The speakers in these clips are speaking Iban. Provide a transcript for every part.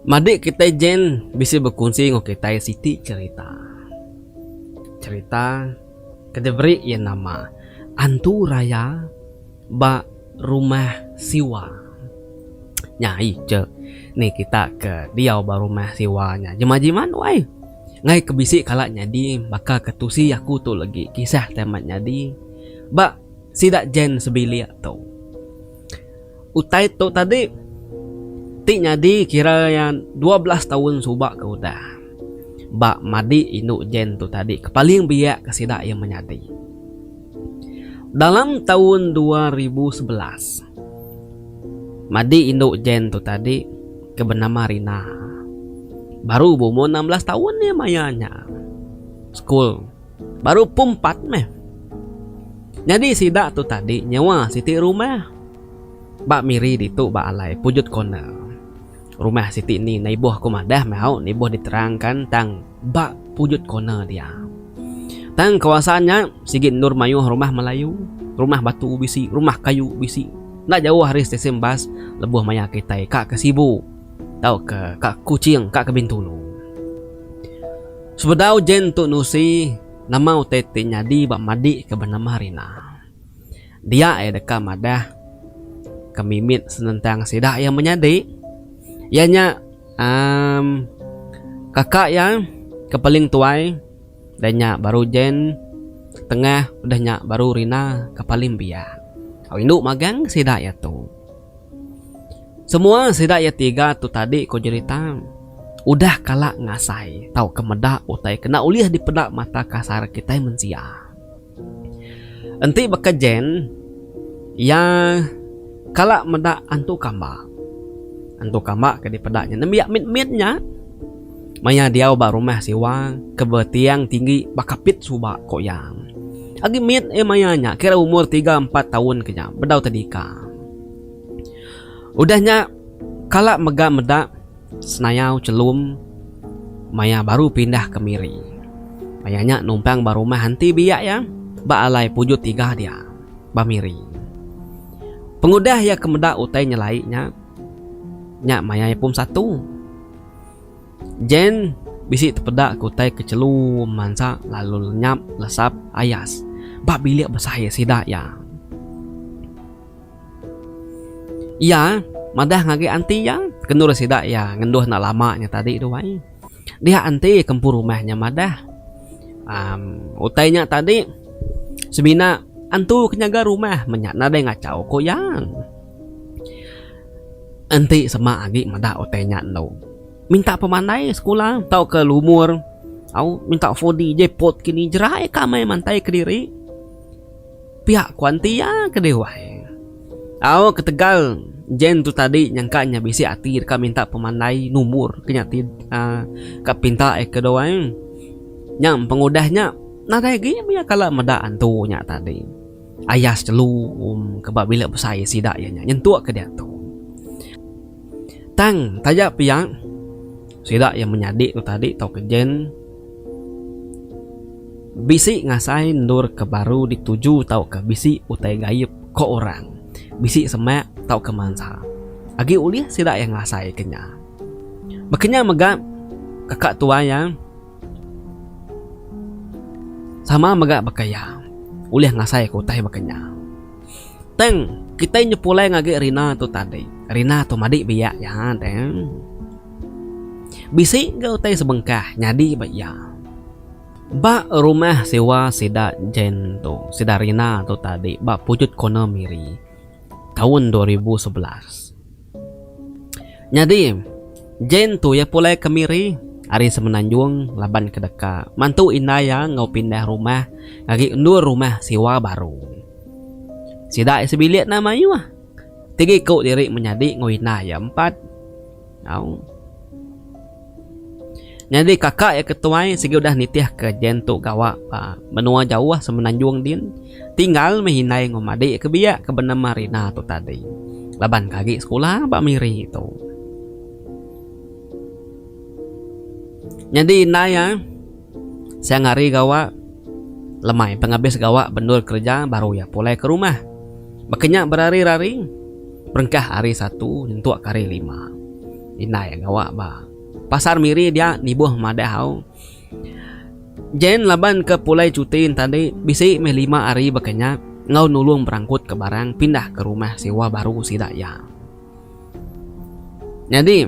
Madi kitai Jen bisi bekunsi enggau kitai siti cherita. Cherita ke diberi iya nama Antu Raya. ba rumah siwa nya ai je ni kita ke diau ba rumah siwa nya jema jiman wai ngai ke bisi kala nyadi baka ke tusi aku tu legi kisah ti amat nyadi ba sida jean sebilik tu utai tu tadi ti nyadi kira iya dua belas taun suba ke udah ba madik indu jean tu tadi ke paling biak ke sida iya menyadi. Dalam taun dua ribu sebelas, madi indu Jen tu tadi ke benama Rina, baru beumur enam belas taun iya maya nya sekul baru pum empat meh. Nyadi sida tu tadi nyewa siti rumah ba Miri ditu ba alai Pujut Corner. Rumah siti ni naiboh ko madah meh hau naiboh diterang kan tang ba pujut corner dia. Tang kawasan nya sigi endur maioh rumah Melayu, rumah batu bisi, rumah kayu bisi. Enda jaoh ari stesen bas leboh maia kitai ka ke Sibu tau ke ka Kuching ka ke Bintulu. Sebedau Jen Tu Nusi nama utai ti nyadi ba madik ke benama Rina. Dia iya deka madah ke mimit senentang sida iya menyadi iya nya um kaka iya ke paling tuai udah nya baru Jen tengah udah nya baru Rina ke paling biak. Au indu magang sida iya tu. Semua sida iya tiga tu tadi ku jerita udah kala ngasai tauka meda utai kena ulih dipeda mata kasar kitai mensia. Enti baka Jen, iya kala meda antu kamba. Antu kamba ke dipeda nya nembiak mit-mit nya. Maya diau ba rumah siwa ke betiang tinggi ba kapit suba ko iya. Agi mit iya maya nya kira umur tiga empat taun ke nya bedau tedika. Udah nya kala mega meda. Senayau Chelum maya baru pindah ke Miri. Maya nya numpang ba rumah enti biak iya ba alai Pujut Tiga dia, ba Miri. Pengudah iya ke meda utai nyelai nya, nya maya iya pum satu. Jane bisi tepeda ke utai ke chelu mansa lalu lenyap lesap ayas ba bilik besai sida iya. Iya madah ngagai anti iya, kendur sida iya ngenduh enda lama nya tadi tu ai. Diak anti ke empu rumah nya madah, am utai nya tadi semina antu ke nyaga rumah meh nya nadai ngachau ku iya. Enti sema agi meda utai nya endo minta pemandai sekula tauka lumur au minta 4D jackpot kini jerai ka meh mantai kediri. Pia ku anti iya ke dewai. Au ketegal Jen tu tadi nyangka nya bisi ati deka minta pemandai numur ke nya ti uhh ka pinta iya ke dua ai. Nya pengudah nya nadai agi mih iya kala meda antu nya tadi. Ayas jelu ke ba bilik besai sida iya nya nyentuk ke diatu. Tang taja pia sida iya menyadi tu tadi tauka Jen. Bisi ngasai endur ke baru dituju tauka bisi utai gaib ko orang bisi semak tauka mansa agi ulih sida iya ngasai ke nya. Baka nya mega kaka tuai iya sama mega baka iya ulih ngasai ke utai baka nya. Tang kitai nyepulai ngagai rina tu tadi rina tu madi biak iya tang. Bisi ga utai sebengkah nyadi ba iya. Ba rumah sewa sida Jane tu, sida Rina tu tadi ba Pujut Corner Miri taun dua ribu sebelas. Nyadi, Jane tu iya pulai ke Miri ari Semenanjung laban ke deka mantu indai iya enggau pindah rumah ngagai endur rumah sewa baru. Sida iya sebilik nama Mayuh ti giku diri menyadi enggau indai iya empat. Au. Nyadi kaka iya ke tuai sigi udah nitihka Jen tu gawa ba menua jauh Semenanjung din, tinggal meh indai enggau madi iya ke biak ke benema Rina tu tadi laban ke agi sekula ba Miri tu. Nyadi indai iya. Siang hari gawa lemai pengabis gawa bendul kereja baru iya pulai ke rumah. Baka nya berari-rari berengkah hari satu nyentuk ke hari lima. Indai gawa ba pasar miri dia nibuh madah au. Jen laban ke pulai cuti enta andi bisi meh lima hari baka nya enggau nulung berangkut ke barang pindah ke rumah sewa baru sida iya. Nyadi,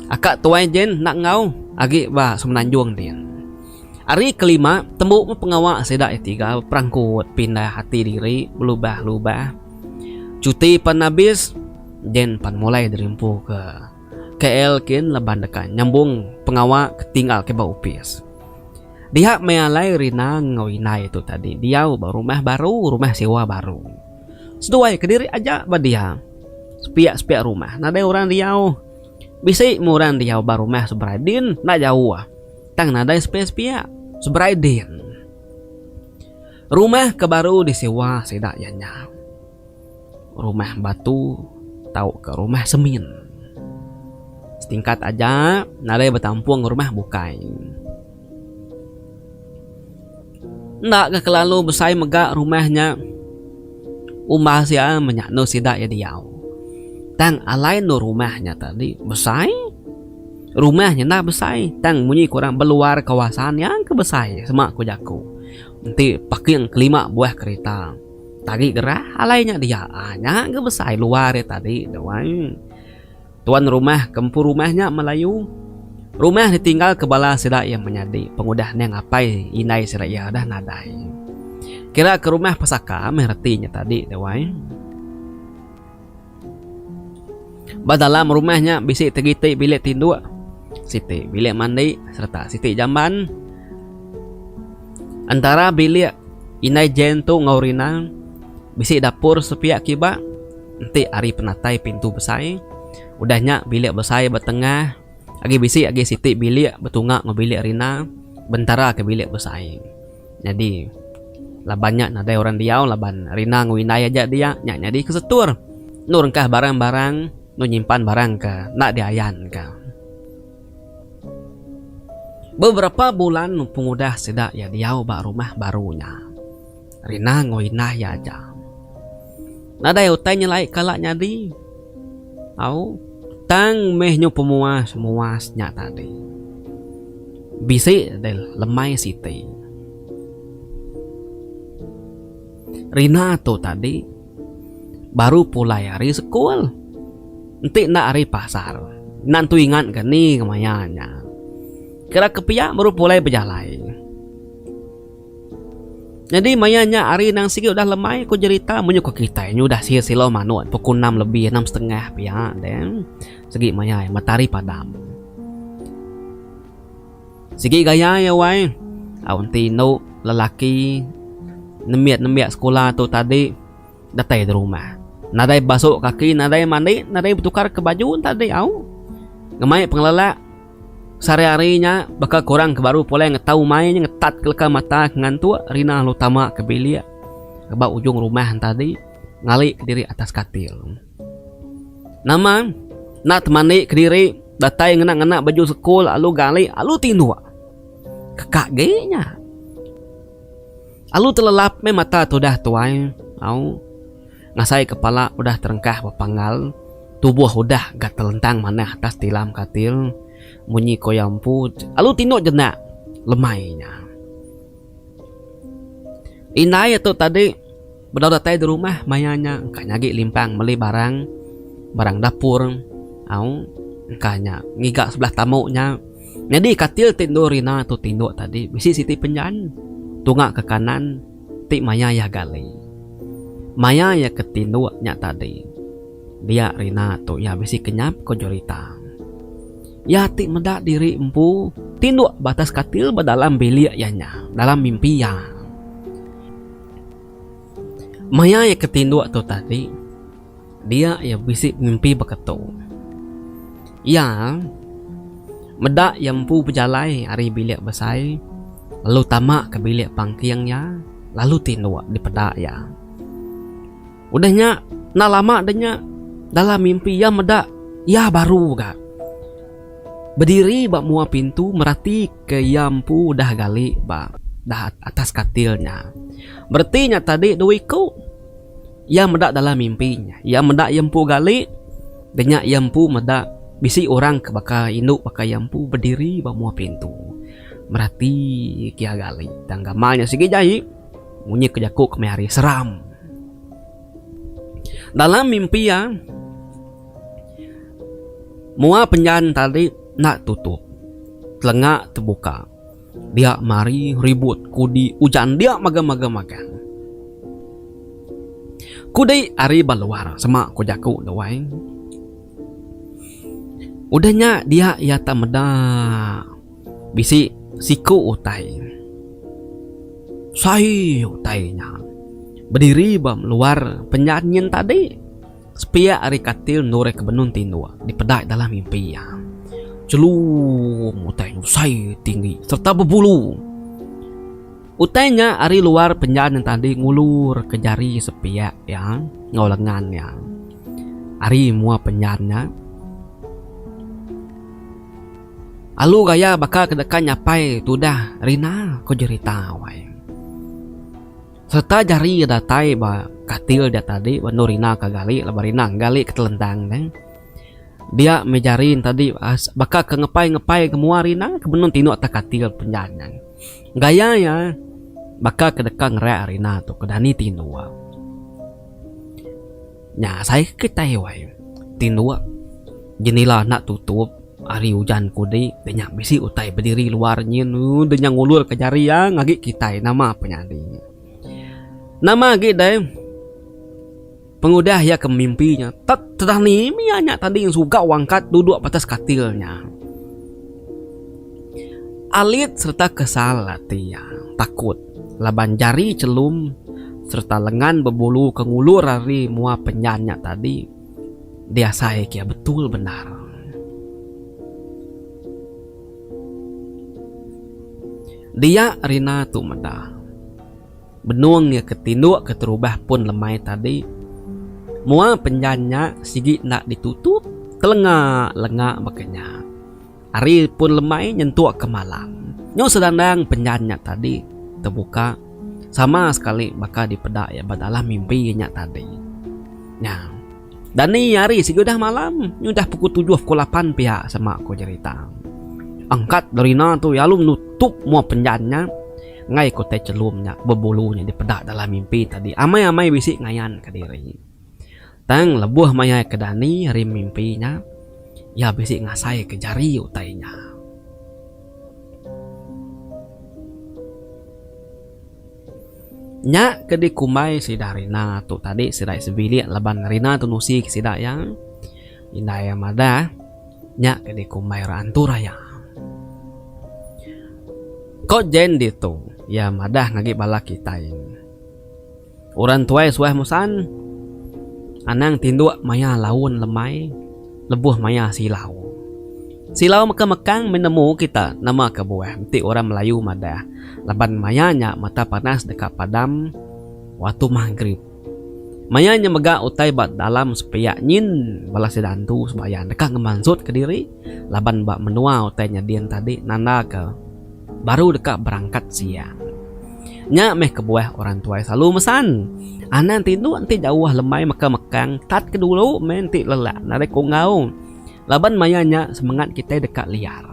aka tuai Jane enda enggau agi ba Semenanjung ti. Ari kelima, tembu meh pengawa sida iya tiga berperangkut pindah ati diri belubah-lubah. Cuti pan abis, Jane pan mulai dirimpu ke KL kin laban deka nyambung pengawa ke tinggal ke ba opis. Diha meh alai Rina enggau indai tu tadi diau ba rumah baru, rumah sewa baru. Seduai kediri aja ba dia. Sepiak-sepiak rumah nadai orang diau. Bisi meh orang diau ba rumah seberai din enda jauh tang nadai sepiak-sepiak. Seberai din rumah ke baru disewa sida iya nya rumah batu tauka rumah semin. Setingkat aja nadai betampung rumah bukai. Enda ga kelalu besai mega rumah nya umbal sia menya endur sida iya diau. Tang alai endur rumah nya tadi besai. Rumah nya enda besai tang munyi ku orang beluar kawasan nya ke besai sema ku jaku. Enti parking kelima buah kereta tagi gerah alai nya dia. Nya ga besai luar iya tadi tu ai. Tuan rumah ke empu rumah nya Melayu. Rumah ditinggalka bala sida iya menyadi pengudah endang apai indai sida iya dah nadai. Kiraka rumah pesaka meh reti nya tadi deh wai. Ba dalam rumah nya bisi tegiti bilik tinduk, siti bilik mandi sereta siti jamban. Entara bilik Indai Jane tu enggau Rina bisi dapur sepiak kiba. enti ari penatai pintu besai. Udah nya bilik besai ba tengah agi bisi agi siti bilik betunga enggau bilik rina bentara ke bilik besai. Nyadi laban nya nadai orang diau laban rina enggau indai aja dia nya nyadi ke setur enu rengkah barang-barang enu nyimpan barang ke enda diayanka. Beberapa bulan pengudah sida iya diau ba rumah baru nya. Rina enggau indah iya aja. Nadai utai nyelai kala nyadi. Au, tang meh nyu pemuas muas nya tadi. Bisi deh lemai siti. Rina tu tadi baru pulai ari sekul. Enti enda ari pasar. Enda nentu ingat ke ni kemaya nya. Kira ke pia baru pulai bejalai. Nyadi maya nya hari nang sigi udah lemai ku jerita menyuka kitai nyudah sihir silau manuk pukul enam lebih enam setengah pia deh. Sigi maya ai matahari padam. Sigi gaya ai awai au enti indu lelaki nembiak-nembiak sekula tu tadi datai di rumah. Nadai basuh kaki nadai mandi nadai betukar ke baju tadi au. Ngemai pengelelak. Sehari-hari nya, baka korang ke baru pulai ngetau mai nya ngetat keleka mata ke ngantuk Rina lalu tama ke bilik ba ujung rumah entadi ngali ke diri atas katil. Nama enda temandi ke diri datai ngena-ngena baju sekul lalu gali alu tinduk. Keka agi nya. Alu telelap meh mata tudah tuai. Au. Ngasai kepala udah terengkah bepanggal, tubuh udah ga telentang manah atas tilam katil, munyi ko iya empu lalu tinduk jenak lemai nya. Indai iya tu tadi bedau datai di rumah maya nya engka nyagi limpang meli barang, barang dapur au engka nya ngiga sebelah tamu nya. Nyadi katil ti endur rina tu tinduk tadi bisi siti penjan tunga ke kanan. ti maya iya gali. Maya iya ke tinduk nya tadi, dia Rina tu iya bisi kenyap ko Jurita. Iya ti meda diri empu tinduk ba atas katil ba dalam bilik iya nya dalam mimpi iya. Maya iya ke tinduk tu tadi. Dia iya bisi pemimpi baka tu. Iya meda iya empu bejalai ari bilik besai lalu tama ke bilik pangking iya lalu tinduk dipeda iya. Udah nya enda lama deh nya dalam mimpi iya meda iya baru ga bediri ba mua pintu merati ke iya empu udah gali ba atas katil nya. Bereti nya tadi dua iku. Iya meda dalam mimpi nya. Iya meda iya empu gali denya iya empu meda bisi orang ke baka indu baka iya empu bediri ba mua pintu merati kia gali. Tang gamal nya sigi jahi munyi ke jaku kemaya hari seram. Dalam mimpi iya mua penjan tadi enda tutup telenga tebuka. Dia mari ribut kudi ujan dia maga-maga magang. Kudi ari ba luar sema ku jaku Luai. Udah nya dia iya tak meda bisi siku utai. Sai utai nya bediri ba luar penyanyin tadi. Sepiak ari katil Nureh ke benung tinduk dipedai dalam mimpi iya. Celung utai ngusai tinggi sereta bebulu. Utai nya ari luar penjan yang tadi ngulurka jari sepiak iya enggau lengan iya ari mua penjan nya. Alu gaya baka ke deka nyapai tudah Rina, ku jerita Wai. Sereta jari iya datai ba katil dia tadi ba endur ina ka gali laban rina gali ke telentang ne. Dia meh jari ne tadi baka ke ngepai-ngepai ke mua rina ke benung tinu atas katil penjan nya. Gaya iya baka ke deka ngereak rina tu ke dani tinu. Nya sai kitai wai. Tinduk jenila enda tutup ari ujan kudi te nya bisi utai bediri luar nyin deh nya ngulurka jari iya ngagi kitai nama pe nyadi. Nama agi deh pengudah iya ke mimpi nya tet tedani mih iya nya tadi suka wangkat duduk batas katil nya. Alit sereta kesal ati iya takut laban jari chelum sereta lengan bebulu ke ngulur ari mua penyan nya tadi diasai ke betul bendar. Dia Rina tu meda benung iya ke tinduk keterubah pun lemai tadi mua penyan nya sigi enda ditutup telenga lenga baka nya. Hari pun lemai nyentuk ke malam. Nyau sedandang penyan nya tadi tebuka sama sekali baka dipeda iya ba dalam mimpi iya nya tadi. Nya. Dani ari sigi udah malam, nya udah pukul tujuh pukul lapan pia sema ko jerita. Angkat Dorina tu lalu nutup mua penyan nya enggai ko tai chelum nya bebulu nya dipeda dalam mimpi tadi. Amai-amai bisi ngayan ka diri. Tang lebuh maya ke Dani rim mimpi nya, iya bisi ngasaika jari utai nya. Nya ke dikumbai sida Rina tu tadi sida sebilik laban Rina tu nusika sida iya. Indai iya madah, Nya ke dikumbai orang antu raya. Ko Jane ditu, iya madah ngagi bala kitai. Orang tuai suah musan, anang tinduk maya laun lemai lebuh maya silau. Silau mega mekang meh nemu kita nama kebuah enti orang Melayu madah laban maya nya mata panas deka padam waktu magrib. Maya nya mega utai ba dalam sepiak nyin bala sida antu sembahyang deka ngemansut kediri laban ba menua utai nyadin tadi nandaka. baru deka berangkat siang. Nya meh kebuah orang tuai selalu mesan, Anang tinduk enti jauh lemai meka mekang tat ke dulu meh enti lelak narik kunggau laban maya nya semengat kitai deka liar.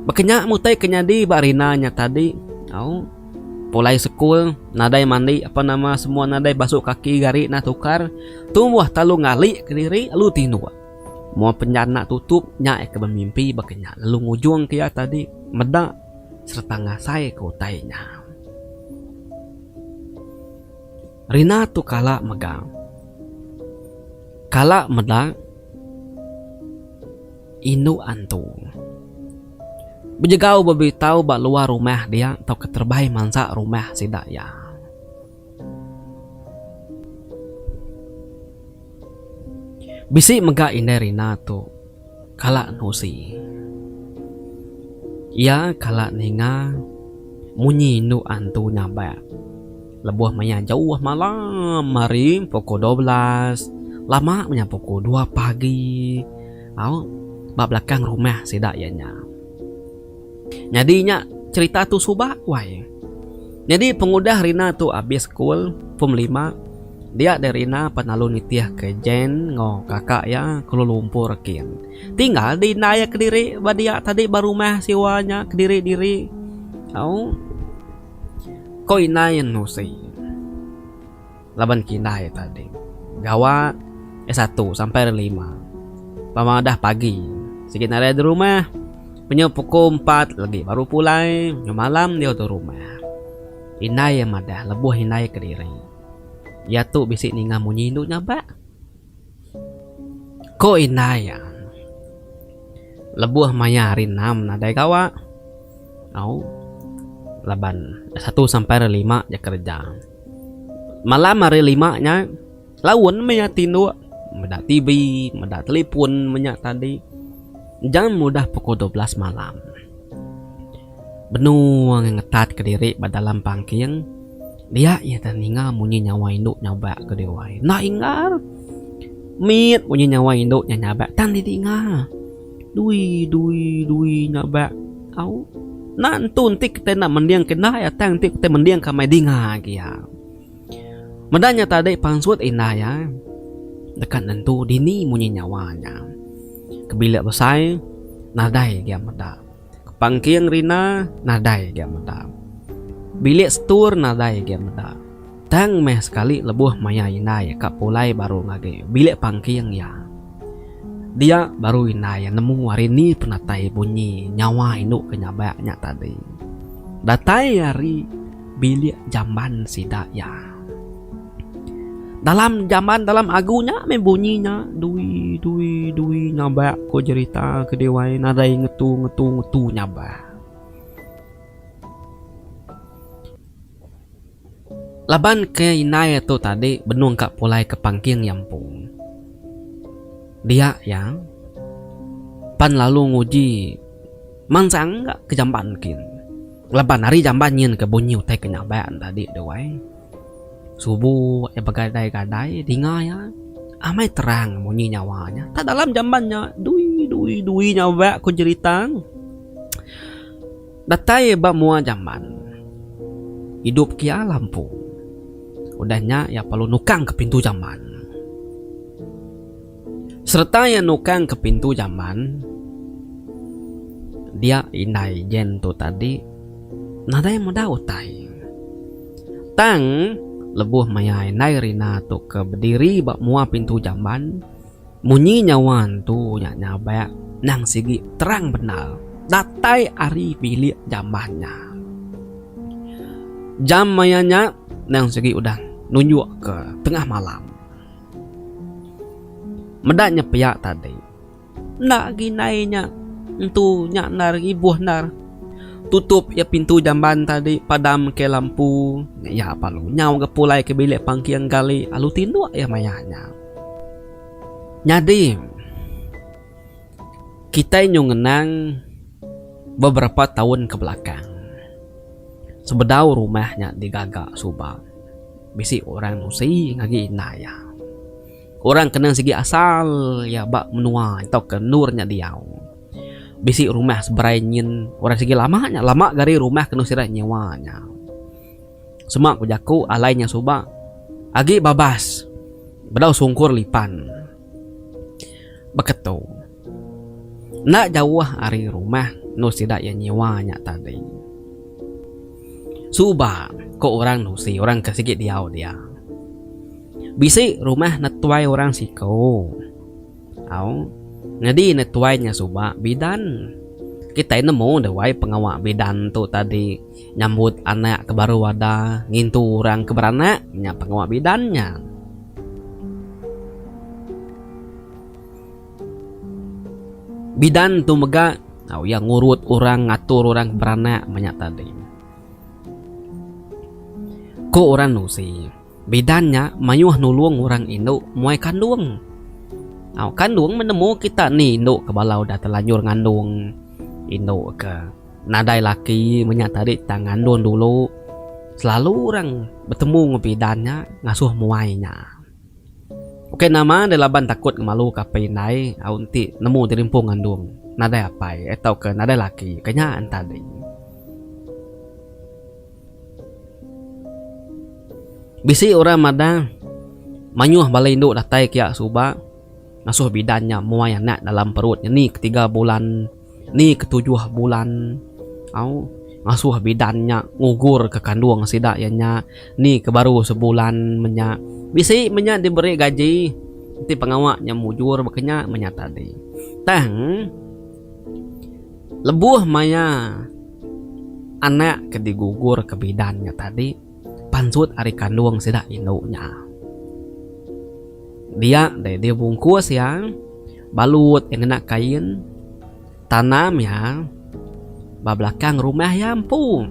Baka nya mutai ke nyadi ba Rina nya tadi au pulai sekul nadai mandi apan nama semua nadai basuh kaki gari nah tukar tumbuh talu ngali kediri lalu tinduk. Mua penjana tutup nya eka bemimpi baka nya lalu ngujung ke iya tadi meda sereta ngasai ke utai nya. Rina tu kala mega. Kala meda indu antu. Bejegau bebitau ba luar rumah dia tauka terebai mansa rumah sida iya. Bisi mega indai Rina tu kala nusi. Iya kala ninga munyi indu antu nyabak lebuh maya jauh malam hari pukul dua belas lama menya pukul dua pagi au ba belakang rumah sida iya nya. Nyadi nya cerita tu suba wai. Nyadi pengudah Rina tu abis sekul, form lima, dia deh Rina pan lalu nitih ke Jane enggau kaka iya Kuala Lumpur kin. Tinggal deh indai iya kediri ba dia tadi ba rumah sewa nya kediri-diri. Au. Ko indai anu seh. Laban kina iya tadi gawa ari satu sampai ari lima pama udah pagi sigi nari ari rumah menyau pukul empat lagi baru pulai menyau malam diau tu rumah. Indai iya madah lebuh indai kediri iya tu bisi ninga munyi indu nya ba. Ko indai iya lebuh maya ari enam nadai gawa au laban ari satu sampai ari lima iya kerja. Malam ari lima nya, laun meh iya tinduk meda TV, meda telefon menya tadi. Jam udah pukul dua belas malam. Benung iya ngetatka diri ba dalam pangking, dia iya tah ninga munyi nyawa indu nyabak ke dia wai. Enda ingar! Mit munyi nyawa indu nya nyabak tang didinga. Dui dui dui nya ba au. Enda entu enti kitai enda mendingka indai iya tang enti kitai mendingka meh dinga agi iya. Meda nya tadi pansut indai iya deka nentu dini munyi nyawa nya. Ke bilek besai nadai gia meda. Pangking rina nadai ga meda. Bilik setur nadai ga meda. Tang meh sekali lebuh maya indai ka pulai baru ngagai bilik pangking iya. Dia baru indai nemu ari ni penatai bunyi nyawa indu ke nyabak nya tadi. Datai ari bilik jamban sida iya. Dalam jaman dalam agu nya meh bunyi nya dui dui dui nyabak ko jerita ke diwai nadai ngetu ngetu ngetu nyabak. Laban ke indai tu tadi benung ka pulai ke pangking nyampung. Dia iya pan lalu nguji mansang ga ke jamban kin. Laban ari jamban nyin ke bunyi utai ke nyabak tadi deh wai. Subu iya begadai-gadai dinga iya amai terang munyi nyawa iya. Tang dalam jamban nya dui dui dui nya wak ku jerita. Datai ba mua jamban idup ke iya lampu. Udah nya iya perlu nukang ke pintu jamban. Sereta iya nukang ke pintu jamban dia indai Jen tu tadi nadai meda utai. Tang lebuh maya indai Rina tu ke bediri ba mua pintu jamban munyi nyawa entu nya nyabak nang sigi terang bendar datai ari bilik jamban nya. Jam maya nya nang sigi udah nunjukka tengah malam. Meda nyepiak tadi. Enda agi indai nya. Entu nya endar ibuh endar. Tutup iya pintu jamban tadi padam ke lampu nya iya lalu nyau ga pulai ke bilik pangking gali lalu tinduk iya maya nya. Nyadi kitai nyu ngenang beberapa taun ke belakang sebedau rumah nya digaga suba. Bisi orang nusi ngagi indai iya. Orang kena sigi asal iya ba menua tauka endur nya diau. Bisi rumah seberai nyin orang sigi lama nya lama ke ari rumah ke nusi rak nyewa nya. Sema ku jaku alai nya suba agi babas bedau sungkur lipan. Baka tu. Enda jauh ari rumah endur sida iya nyewa nya tadi. Suba, ku orang nusi orang ke sigi diau dia. Bisi rumah netuai orang siku. Au, nyadi netuai nya suba bidan. Kitai nemu debai pengawa bidan tu tadi. Nyambut anak ke baru ada ngintu orang ke beranak nya pengawa bidan nya. Bidan tu mega tau iya ngurut orang ngatur orang ke beranak meh nya tadi. Ku orang nusi, bidan nya mayuh nulung orang indu muai kandung. Au kandung menemu kita ni indu ke bala udah telanjur ngandung indu ke. Nadai laki menya tadi tang ngandun dulu selalu orang betemu ngan bidan nya ngasuh muai nya. Ukai nama deh laban takut ngemalu ka apai indai au enti nemu diri empu ngandung nadai apai tau ka nadai laki ka nya enta deh. Bisi orang madah mayuh bala indu datai kiya suba. Ngasuh bidan nya muai anak dalam perut nya ni ketiga bulan ni ketujuh bulan au ngasuh bidan nya ngugur ke kandung sida iya nya ni ke baru sebulan menya bisi menya diberi gaji enti pengawa nya mujur baka nya menya tadi tang lebuh maya anak ke digugur ke bidan nya tadi. Pansut ari kandung sida indu nya. Dia deh dibungkus iya, balut iya ngena kain, tanam iya ba belakang rumah iya empu.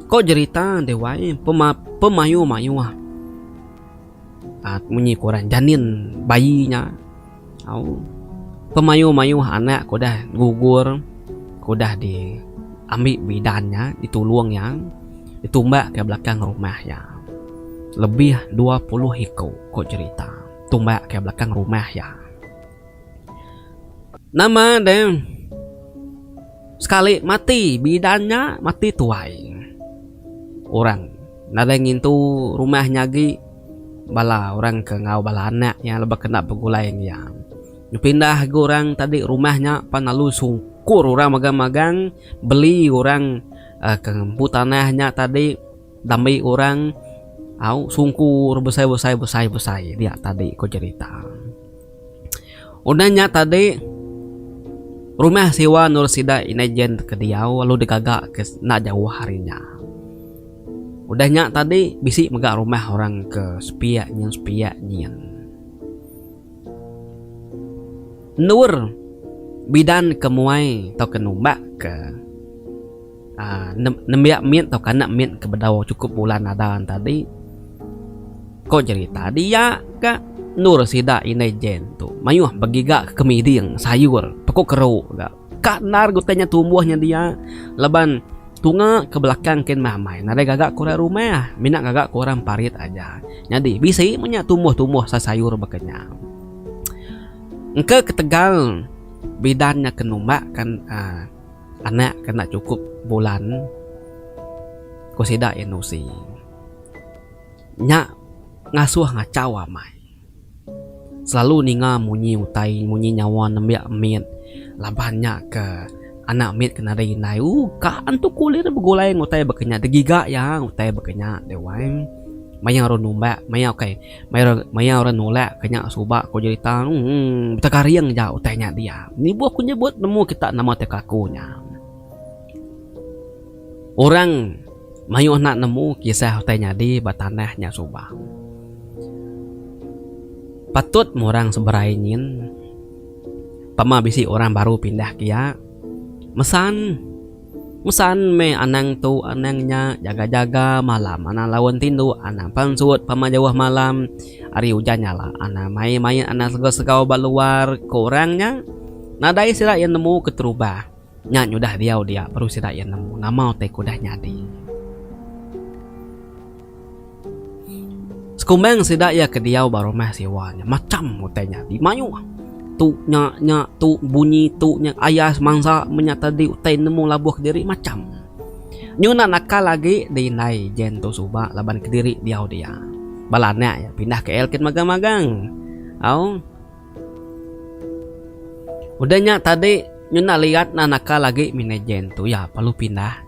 Ko jerita deh wai pemayuh-mayuh munyi ke orang janin bayi nya. Au. Pemayuh-mayuh anak ke udah gugur, ke udah di ambi bidan nya, di tulung iya, di tumbak ka belakang rumah iya. Lebih dua puluh iku ku cherita tumbak ka belakang rumah iya. Nama de sekali mati bidan nya mati tuai. Orang nadai ngintu rumah nya agi. Bala orang ke enggau bala anak iya lebuh kena begulai enggau iya. Dipindah agi orang tadi rumah nya pan lalu sungkur orang magang-magang beli orang ke ngempu tanah nya tadi dambi orang au sungkur besai-besai besai-besai dia tadi ku cerita. Udah nya tadi rumah sewa endur sida indai jen ke diau lalu digaga ke enda jauh ari nya. Udah nya tadi bisi mega rumah orang ke sepiak nyin sepiak nyin. Endur bidan ke muai tauka numbak ke. Nembiak mit tauka enda mit ke bedau chukup bulan ada tadi. Ko jerita dia ka endur sida indai Jen tu mayuh begiga ke miding sayur peko keru ga. Ka endar ke utai nya tumbuh nya dia laban tunga ke belakang kin meh amai nadai gaga ke orang rumah mina gaga ke orang parit aja. Nyadi bisi meh nya tumbuh-tumbuh sai sayur baka nya. Engka ketegal bidan nya ke numbak kan uhh. Anak kena chukup bulan, ku sida iya nusi. Nya ngasuh ngachau amai. Selalu ninga munyi utai, munyi nyawa nembiak mit laban nya ke anak mit ke nadai indai. U ka antu kulir iya begulai enggau utai baka nya, degiga iya utai baka nya deh wai. Mayau ru numbak, mayau ukai. Maya orang nulak ke nya suba ko jerita tu betekaring ja utai nya diau. Nibuh ko nyebut nemu kita nama ti kaku nya. Orang mayuh enda nemu kisah utai nyadi ba tanah nya suba. Patut meh orang seberai nyin pama bisi orang baru pindah ke iya mesan. Usan meh anang tu anang nya jaga jaga malam anang laun tindu anang pansut pama jauh malam ari ujan nya lah anang main main anang segau segau ba luar ku orang nya nadai sida iya nemu keterubah nya nyudah diau dia baru sida iya nemu nama utai ke udah nyadi. Sekumbang sida iya ke diau ba rumah sewa nya macham utai nyadi mayuh. Tu nya nya tu bunyi tu nya ayas mansa menya tadi utai nemu labuh kediri macham. Nyu enda nakal agi di indai Jen tu suba laban kediri diau dia. Bala anak iya pindah KL kin magang magang. Au. Udah nya tadi nyu enda liat enda nakal agi minai Jen tu iya perlu pindah.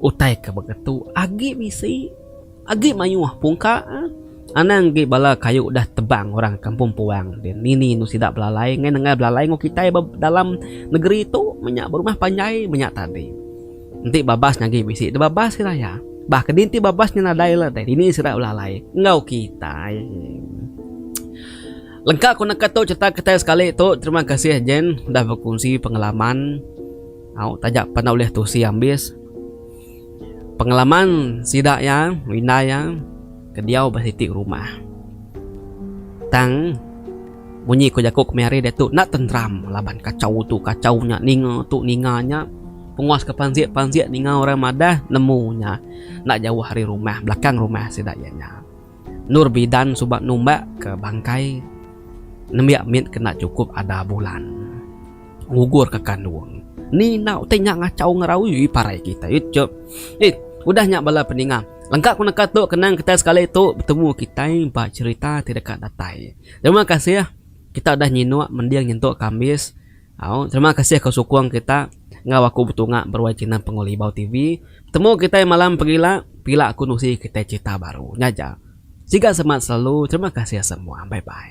Utai ke baka tu agi bisi, agi mayuh pungka. Anang agi bala kayu udah tebang orang Kampung Puang ti nini enu sida belalai ngena nengah belalai enggau kitai ba dalam negeri tu meh nya berumah panjai meh nya tadi. Enti babas nya agi bisi deh babas sida iya. Bah kadi enti babas nya nadai la deh dini sida belalai enggau kitai. Lengka ku neka tu cherita kitai sekali tu. Terima kasih Jen udah bekunsi pengalaman. Au taja peda ulih tusi ambis. Pengalaman sida iya indai iya ke diau ba siti rumah. Tang munyi ku jaku kami hari diatu enda tenteram laban kachau tu kachau nya ninga tu ninga nya penguas ke pansik pansik ninga orang madah nemu nya enda jauh ari rumah belakang rumah sida iya nya. Nur bidan suba numbak ke bangkai nembiak mit kena chukup ada bulan ngugur ke kandung. Ni nau utai nya ngachau ngerau ui parai kitai ui chop. Ih udah nya bala peninga lengka ku neka tu kenang kitai sekali tu betemu kitai ba cherita ti deka datai. Terima kasih kita udah nyinuk mending nyentuk kambis. Au terima kasih ke sukung kita enggau aku betunga beruai channel Pengawa Libau TV. Betemu kitai malam pegila pila aku nusi kitai cerita baru nya aja. Siga semat selalu terima kasih semua bye bye.